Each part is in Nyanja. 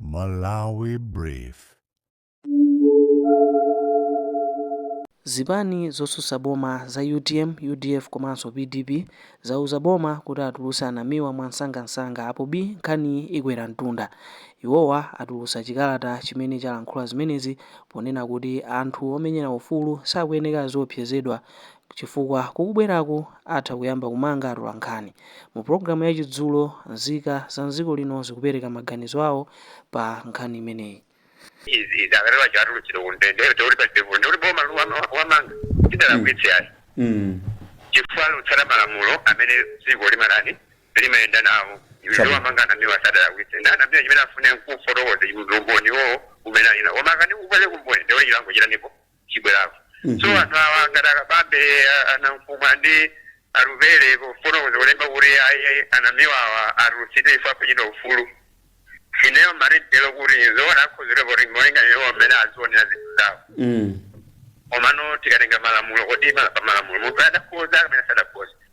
Malawi Brief. Zipani zotsutsa boma za utm, udf komanso pdp zauza boma kuti atulutse a Namiwa mwansangansanga apo bi nkhaniyi ikwera mtunda. Iwowa atulutsa chikalata chimene chalankhula zimenezi ponena kuti anthu omenyera ufulu sakuyenera aziopsezedwa chifukwa kukubwerako atha kuyamba kumanga atolankhani. Mu pulogalamu ya chidzulo, nzika za m'dziko lino zikupereka maganizo awo pa nkhani imeneyi. Izi izi akatero aja atulutsidwe ku ndende ndiye kuti palibe vuto ndikuti boma powamanga silidalakwitse ayi chifukwa latsata malamulo amene dziko limatani limayenda nawo powamanga a Namiwa sadalakwitse nde a Namiwa chimene afune nkufotokoza umboni iwowo umene ali nawo koma akati alibe umboni ndekuti chilango chitani chibwerako so anthu awa ngati akabambe a Nankhumwa ndi a Atupele kufotokoza kulemba kuti ayi a Namiwawa atulutsidwe ife akuchita ufulu ineyo maganizo kuti zoona akhuzire kuti molinga ndi iwo mmene azionera zinthu zawo Mm. komano tikatenga malamulo kodi ma- pa malamulo munthu adakhoza kapena sadakhoza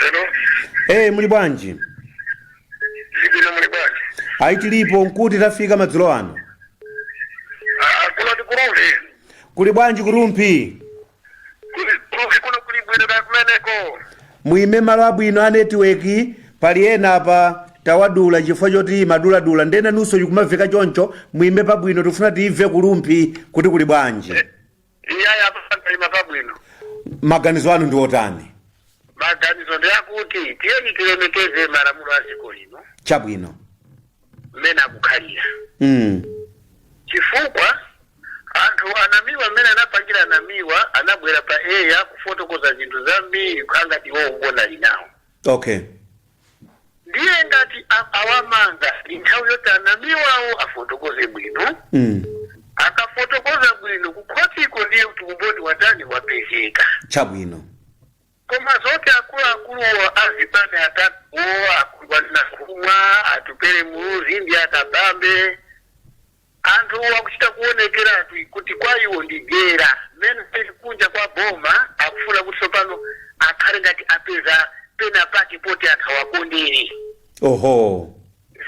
Hello. ee muli bwanji Ndibwino muli bwanji. ayi tilipo nkuti tafika madzulo ano Ah, kuno ndi ku Rumphi. kuli bwanji ku Rumphi Kuli- ku Rumphi kuno kuli bwino kaya kumeneko. muime malo abwino a netiweki pali ena apa tawadula chifukwa choti amaduladula nde nanunso zikumamveka choncho muime pabwino tifuna timve ku Rumphi kuti kuli bwanji iyayi apa ndaima pabwino maganizo anu ndi otani maganizo ndi akuti tiyeni tilemekeze malamulo a dziko lino chabwino mmene akukhalira mm. chifukwa anthu a Namiwa mmene anapangira a Namiwa anabwera pa eya kufotokoza zinthu zambiri ngati iwo umboni ali nawo okay ndiye ngati a- awamanga ndi nthawi yoti a Namiwawo afotokoze bwino mm. akafotokoza bwino kukhotiko ndiye kuti umboni watani wapezeka chabwino koma zoti akuluakulu azipani atatuwo akuti a Nankhumwa Atupele Muluzi ndi a Kabambe Anthu akuchita kuonekeratu kuti kwa iwo ndi dyera mmene alili kunja kwa boma. Akufuna kuti tsopano akhale ngati apeza penapake poti anthu awakondere. Oho.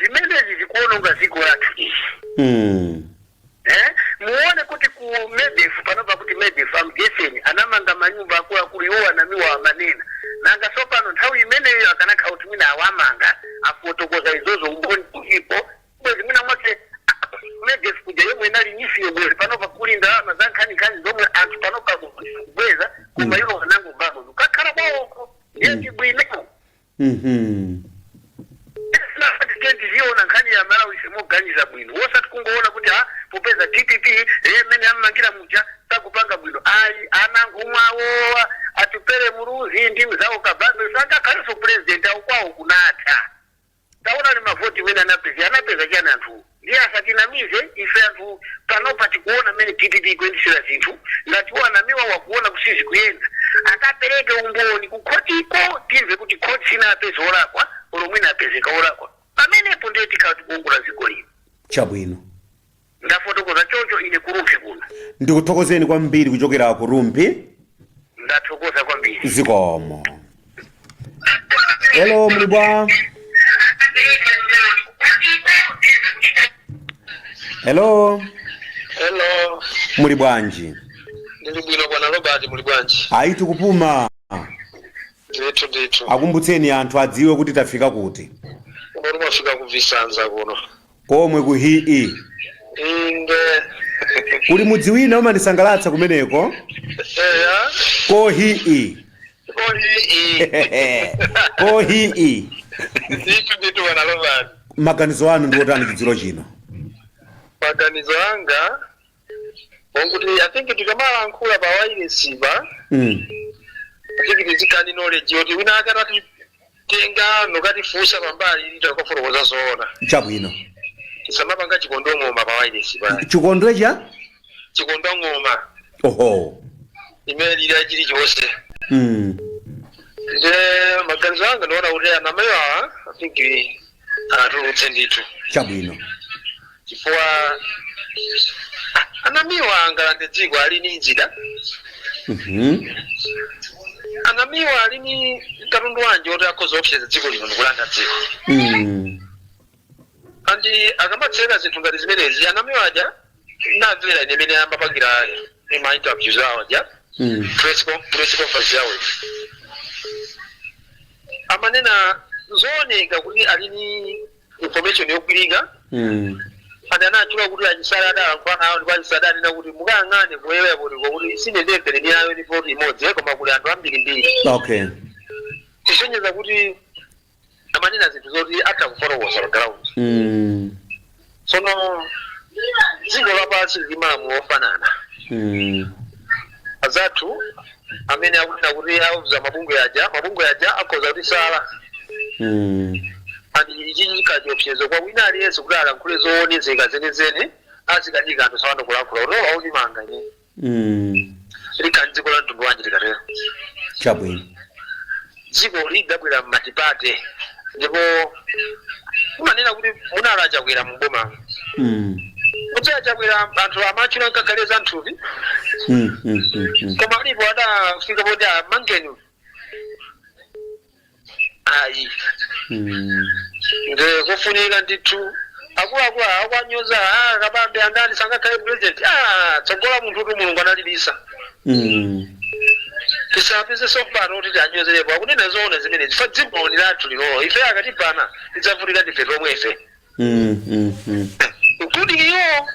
Zimenezi zikuononga dziko lathu izi. Hmm. Eh? Muone kuti ku Medef panopa kuti Medef a Mgesen anamanga manyumba akuluakulu iwo a Namiwa amanena. Nanga tsopano nthawi imeneyo akanakhala kuti mwina awamanga afotokoza izozo umboni ulipo bwezi mwina mwake medf kuja yomwe inali neef yo bwezi panopa kuli ndalama za nkhaninkhani zomwe anthu panopa akubweza koma iwo anangobamo kukakhala kwawoko ndiye ndibwino Mhm. tiziona nkhani ya malawiyi moganiza bwino wosati kungoona kuti ha popeza dpp eh, mmene ammangira muja sakupanga bwino ayi a nankhumwa awa atupele muluzi ndi mzawo kabambe sangakhalenso president awo kwawo kunatha Taonani mavoti mmene anapezera. Anapeza chani anthuwo? Ndiye asatinamize ife anthu panopa tikuona mmene dpp ikuyendetsera zinthu ngati iwo a namiwa akuona kuti sizikuyenda akapereke umboni kukhotiko timve kuti khoti sinapeze olakwa olo mwina apezeka olakwa pamenepo ndiye tikhala tikuongola dziko lino. Chabwino. Ndafotokoza choncho ine ku Rumphi kuno. Ndikuthokozeni kwambiri kuchokera ku Rumphi. Ndathokoza kwambiri. Zikomo. Hello, muli bwa? Hello, Hello, muli bwanji? ndili bwino bwana Robert, muli bwanji? Ayi tikupuma. Ndithu ndithu. Akumbutseni anthu adziwe kuti tafika kuti. Koma mwafika ku Visanza kuno. komwe ku he inde kuli mudzi wina umandisangalatsa kumeneko eya ko he koyi ko he ndithu ndithu bwana Robert maganizo anu ndi otani chidzulo chino maganizo anga okuti i think tikamalankhula pa wailesipa Mm. i think tizikhala ndi knowledge yoti wina wake atatitenga nkukatifunsa pambali tikafotokoza zoona chabwino tisamapanga chikondo ng'oma pa wailesipa chikondo cha chikondo ng'oma oho imene ilira chilichonse mm. nde maganizo anga ndiona kuti a namiwa awa i think awatulutse ndithu chabwino chifukwa a namiwa angalande dziko ali ni zida Mhm. a namiwa ali ni katundu wanji oti akhoza kuopseza dziko lino ndikulanda dziko Mm. and akamatseka zinthu ngati zimenezi a namiwa aja ndinamvera ine mmene amapangira ma interviews awo aja Mm. press con- press conference yawo amanena zooneka kuti ali ni information yogwirika Mm. and anatchula kuti a chisale adalankhulana nawo ndipo a chisale adanena kuti mukayang'ane ku eyapotipo kuti sine ndembere ni ayo ni poti imodzi eh, koma kuli anthu ambirimbiri Okay. kusonyeza kuti amanena zinthu zoti atha kufotokoza pa ground Mm. tsono dziko lapansi lili ndi malamulo ofanana Mm. azathu amene akunena kuti auza mabungwe aja mabungwe aja akhoza kutisala Mm. and ichi chikuyika chiopsezo kwa wina aliyense kuti alankhule zoonezeka zenezene azikanika anthu saona kulankhula kuti mwina andimanga ine Mm. likhala dziko la mtundu wanji likatero Chabwino. dziko lidabwera m'matipate ndipo umanena kuti munali a Chakwera m'boma Mm. kuti a Chakwera anthu amatchula nkachale za nthupi Mm. Mm. Mm. Mm. koma alipo adafika poti amangeni ayi Mm. nde kufunika ndithu akuluakulu akuwanyoza ah, kabambe andani angakhale president ah, tsogola munthu kuti mulungu analibisa Mm. tisapezeso mpata kuti tianyozerepo akunena zoona zimenezi chifukwa dzikoli ni lathu lilolo ife akatibana tidzavutika ndife tomwefe Mm, mm, mm. including iwo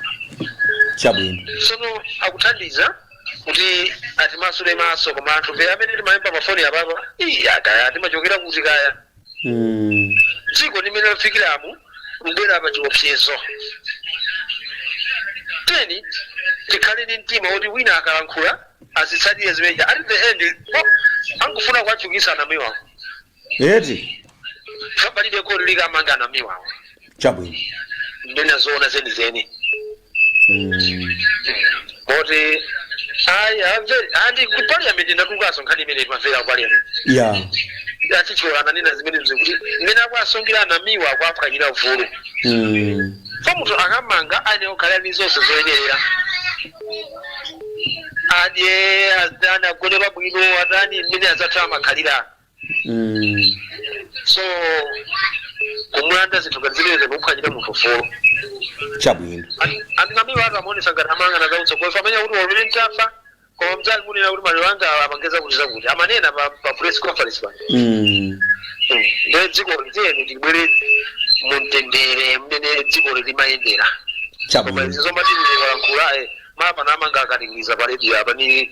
Chabwino. sono akuthandiza kuti atimasule maso koma anthufe amene timayimba mafoni apapa ii kaya timachokera kuti kaya Mm. dziko mmene lafikiramu kubwera pa chiopsezo tiyeni tikhale ndi mtima woti wina akalankhula azitsatire zimeneja at the end oh, angufuna kuwatchukisa a Namiwa eti palibe kodi likamanga a Namiwawo chabwino anena zoona zenizeni Mm. moti ayi amve andi ku parliament yatulukaso nkhani imene imamvera ku parliament ya a Kaichola ananena zimene zikuti mmene akuasungira a Namiwa akuaphwanyira ufulu Mm. so munthu akamangidwa ayenera kukhala ndi zonse zoyenerera adye azidani agone pabwino atani mmene azathu amakhalira Mm. so kumulanda zinthu ngati zimenezi mukuphwanyira munthu ufulu chabwino and a Namiwa ati amaonesa ngati amayang'ana zautsogoleri amenya kuti walule mtafa koma mdzali munena kuti malero anga amangeza kuti zakuti amanena pa pa press conference pano Mm. nde dziko ili tiyeni tibwere mumtendere mmene dziko limayendera koma chabwino izi zomati ndikalankhula mmapeto amanga akatingiza pa radio apa ni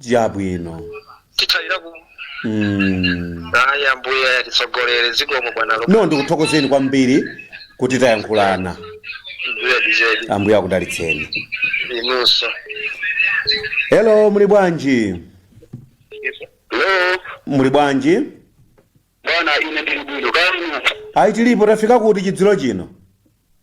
chabwino tithera apa mm. ayi ambuye atitsogolere zikomo bwana lo no ndikuthokozeni kwambiri kuti tayankhulana mbuye dizedi ambuye akudalitseni inunso hello muli bwanji hello muli bwanji bwana ine ndili bwino kaya ayi tilipo tafika kuti chizulo chino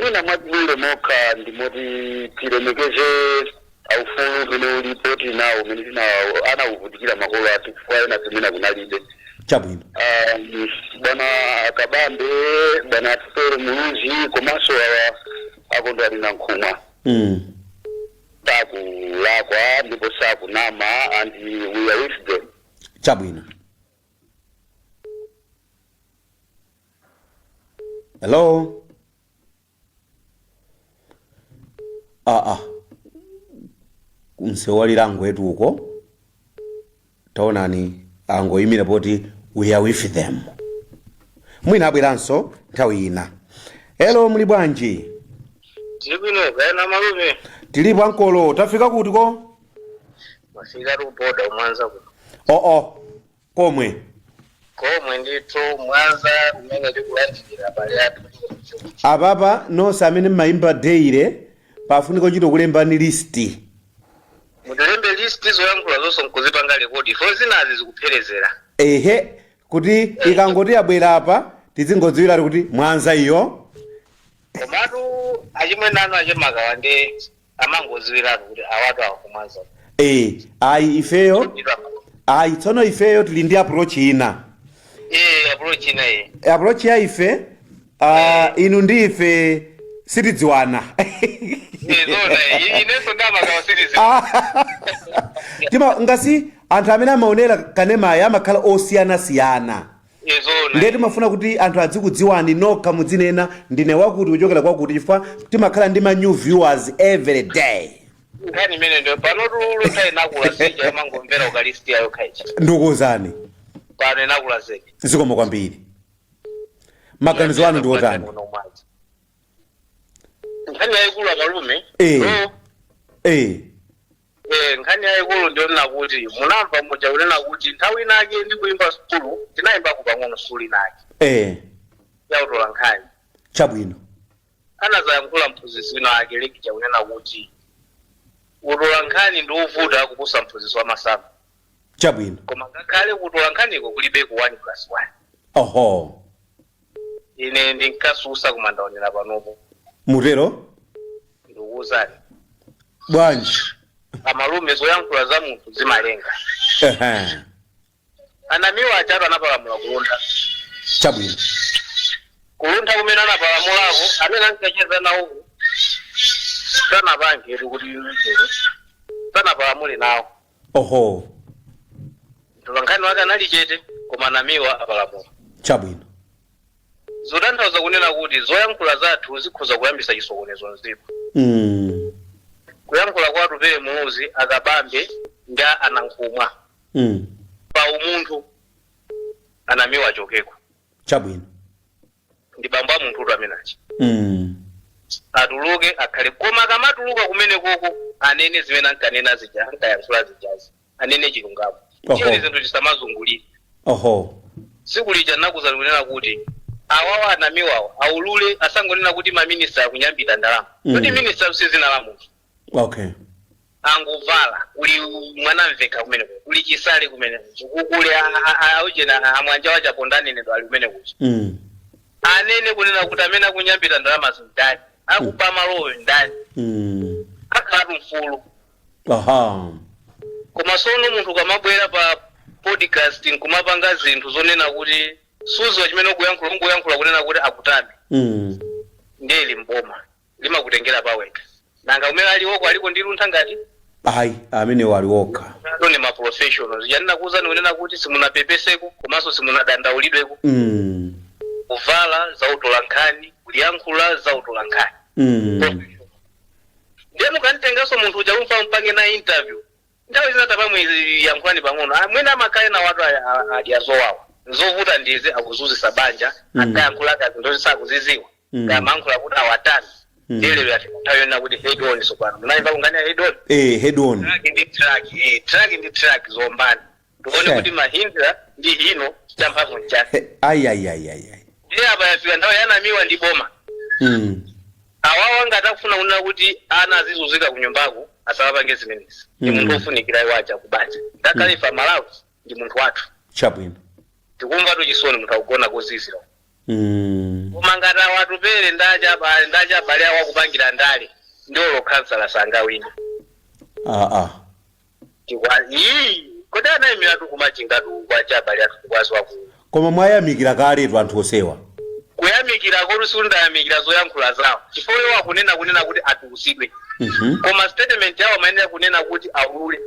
mwina mwatibwerera mokha ndi moti tilemekeze aufulu umene ulipo tili nawo umene tina anauvutikira makolo athu chifukwa enafetu kunalibe chabwino Um, bwana akabambe bwana Atupele Muluzi komanso awa a Kondwani Nankhumwa mm. sakulakwa ndipo sakunama and we are with them chabwino hello aa ku Nsewalira angwetu uko taonani angoyimira poti we are with them mwina abweranso nthawi ina hello muli bwanji tili bwino kaya inu amalume tilipo ankolo tafika kutiko mwafika ku boda ku Mwanza ku oo komwe. Komwe ndithu mwanza kumene tikulandilira abale athu choncho. Apapa nonse amene mmayimba daily pafunika ochita kulembani list. Mutilembe list zoyankhula zonse nkuzipanga rekodi for zinazi zikuperewera. Ehe kuti ikangoti yabwera apa tidzingodziwiratu kuti mwanza iyo. Komatu achimwene anu achemakawa ndi amangoziwiratu kuti awatu a ku Mwanza eh ayi ifeyo ayi tsono ifeyo tili ndi approach ina eh approach ina iyi approach ya ife ah, inu ndi ife sitidziwana nzoona iyi inenso nda Makawa sitidziwana timangoti anthu amene amaonera kanemayo amakhala osiyanasiyana Nde timafuna kuti anthu adzikudziwani nokha mudzinena ndine wakuti kuchokera kwakuti chifukwa timakhala ndi ma new viewers every day. nkhani imene ndi panotu Luntha inakula si ija imangomvera ukalisitiya yokha ija Ndikuwuzani pano inakula zedi zikomo kwambiri. Maganizo anu ndi otani? nkhani yayikulu amalume Eh. Eh. Eh, nkhani yayikulu ndiyonena kuti munamva muja kunena kuti nthawi inake ndikuyimba sukulu ndinayimbako pang'ono sukulu inake eh yautola nkhani chabwino anadzayankhula mphunzitsi wina ake lecturer kunena kuti utola nkhani ndi wovuta kuposa mphunzitsi wa masamu chabwino koma ngakhale kutola nkhaniko kulibeko 1 plus 1 oho ine ndinkatsutsa koma ndaonera panopo mutero ndikuwuzani bwanji amalume zoyankhula za munthu zimalenga Ehe, a Namiwa ajatu anapalamula ku Luntha chabwino ku Luntha kumene anapalamulako amene ankacheza nawo sanapangetu kuti iwo sanapalamule nawo oho mtolankhani wake anali chete koma anamiwa apalamula chabwino zotanthauza kunena kuti zoyankhula zathu zikhoza kuyambisa chisokonezo mdziko mm. kuyankhula kwa atupele muluzi akabambe ndi anankhumwa Mm. pa umunthu anamiwa achokeko chabwino ndi bambo a munthutu amene achi mm. atuluke akhale koma akamatuluka kumenekoko anene zimene ankanena zija ankayankhula zijazi anene chilungamo Oho. tiyeni zinthu tisamazungulire oho tsiku lija ndinakuuzani kunena kuti awawa anamiwawa aulule asangonena kuti maminista akunyambita ndalama Mm. kuti minista si dzina la munthu okay angovala kuli mwanamvekha kumeneko kuli chisale kumeneko kuli aujeni amwanja achaponda nenedwa ali kumeneko mm. anene kunena kuti amene akunyambita ndalamazi ndani akuba malowo ndani Mm. akhalatu mfulu aha koma sono munthu ukamabwera pa podcast nkumapanga zinthu zonena kuti sudziwa chimene ukuyankhula ungoyankhula kunena kuti akutame mm. ndiye ili mboma limakutengera pawekha. Nanga kumene ali oko aliko ndi luntha ngati? Ayi, amenewo ali okha. Iwo ndi ma professional. Zija ndinakuuzani kunena kuti simunapepeseko komanso simunadandaulidweko. mm. Kuvala za utolankhani, kuyankhula za utolankhani. mm. Ndiye mukamtenganso munthu uja kufuna mupange naye interview. Nthawi zina tabamuyankhulani pang'ono. Ah, Mwina amakhala enawatu aya- a- adya zowawa. Nzovuta ndizi akuzunzitsa banja, Mm. akayankhula kazi ndo sakuzidziwa. Mm. akamayankhula kuti awatani Mm. ndiye lero yafika nthawi yonena kuti head on tsopano munayimvako nkhani ya head on eh head on truck ndi truck eh, truck ndi truck ziombane tione Sure. kuti mahindra ndi hino champhamvu nchani He- ai ai ai ai ai. ndiye apa yafika nthawi ya anamiwa ndi boma Mm. awawa ngati akufuna kunena kuti ana azizunzika ku nyumbaku asawapange zimenezi ndi Mm. munthu ofunikira awaja kubanja ngakhale ife amalawi ndi munthu wathu chabwino tikumva tuchisoni munthu akugona kozizira uko. mm. koma ngati a atupele ndachiba- ndachibale awo akupangira ndale ndiye olo khansala sangawine ah, ah. tikwa ii kodi anayimiratu kumachingatu kwa achibale athu tikwazi waku koma mwayamikira kaletu anthu osewa kuyamikira koti sindinayamikire zoyankhula zawo chifukwa iwo akunena kunena kuti atulusidwe Mhm. koma statement yawo amayenera kunena kuti aulule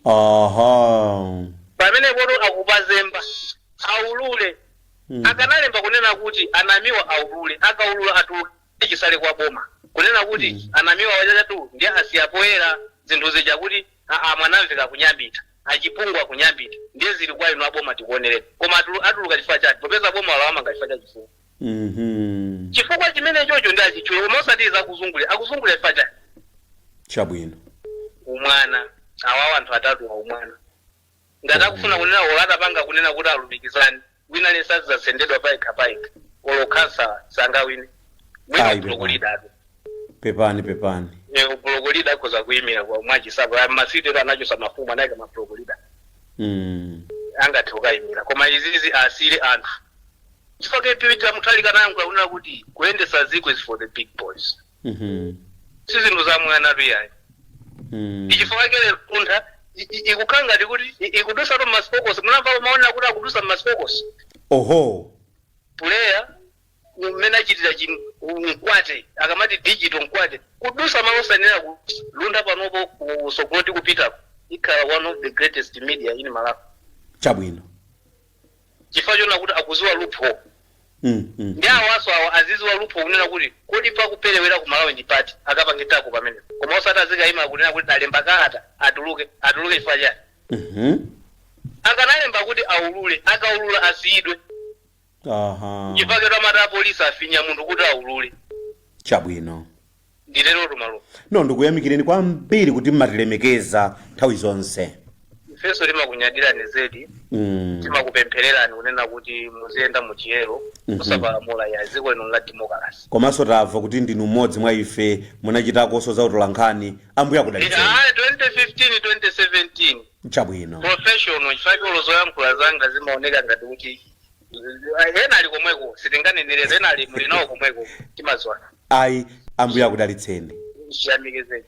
aha pamenepotu akupazemba aulule Mm. akanalemba kunena kuti anamiwa aulule akaulula atuluke chitsale kwa boma kunena kuti Mm. anamiwa ajatu ndiye asiya poyera zinthu zija kuti aa mwanamvekha akunyambita achipungu akunyambita ndiye zili kwa inu aboma tikuonereni koma atulu- atuluka chifukwa choti popeza boma lawamanga chifukwa cha chifungo Mhm. chifukwa chimene chocho ndi achitchule koma osati zakuzungulira akuzungulira chifukwa chani Chabwino. umwana awawa anthu atatuwa umwana ngati akufuna kunena olo atapanga kunena kuti alumikizani wina aliyense azasendedwa paikha paikha olo khansala sangawine mwina Ayi, u block leader-tu Pepani pepani. u block leader akhoza kuyimira kwa Mwachisapo masiti ero anachosa mafumu anayika ma block leader Mm. angathe kukayimira koma izizi asire anthu chifukwa Peter uja Mutharika anayankhula kunena kuti kuyendesa ziko is for the big boys Mhm. si zinthu zaumwanatu iyayi Mm. n'chifukwa chake Luntha ikukhala ngati kuti i- ikudusa tu ma spokes munamva maona kuti akudusa ma spokes oho puleya mmene achitira Che Mkwate akamati digital Mkwate kudusa malo osanena kuti Luntha panopo kusogolo tikupitako ikhala one of the greatest media in Malawi chabwino chifukwa choona kuti akuziwa loophole Mm, mm. ndi awaso awa aziziwa loophole kunena kuti kodi pakuperewera ku Malawi ndi pati akapangitako pamene koma osati azikayima kunena kuti talemba kalata atuluke atuluke chifukwa chani Mhm. akanalemba kuti aulule akaulula asiyidwe Aha. chifukwa choti amati apolisi afinye munthu kuti aulule Chabwino. nditerotu malume no ndikuyamikireni kwambiri kuti mmatilemekeza nthawi zonse ifenso timakunyadirani zedi mm. timakupemphererani kunena kuti muziyenda m'chiyero Mhm. musapalamule ya dziko lino la demokalase komanso tamva kuti ndinu mmodzi mwa ife munachitakonso za utolankhani Ambuye akudalitseni ayi 2015 2017 chabwino professional chifukwa cholo zoyankhula zanga zimaoneka ngati kuti ena ali komweko sitinganeneretu ena ali muli nawo komweko timadziwana ayi Ambuye akudalitseni ndiyamike zedi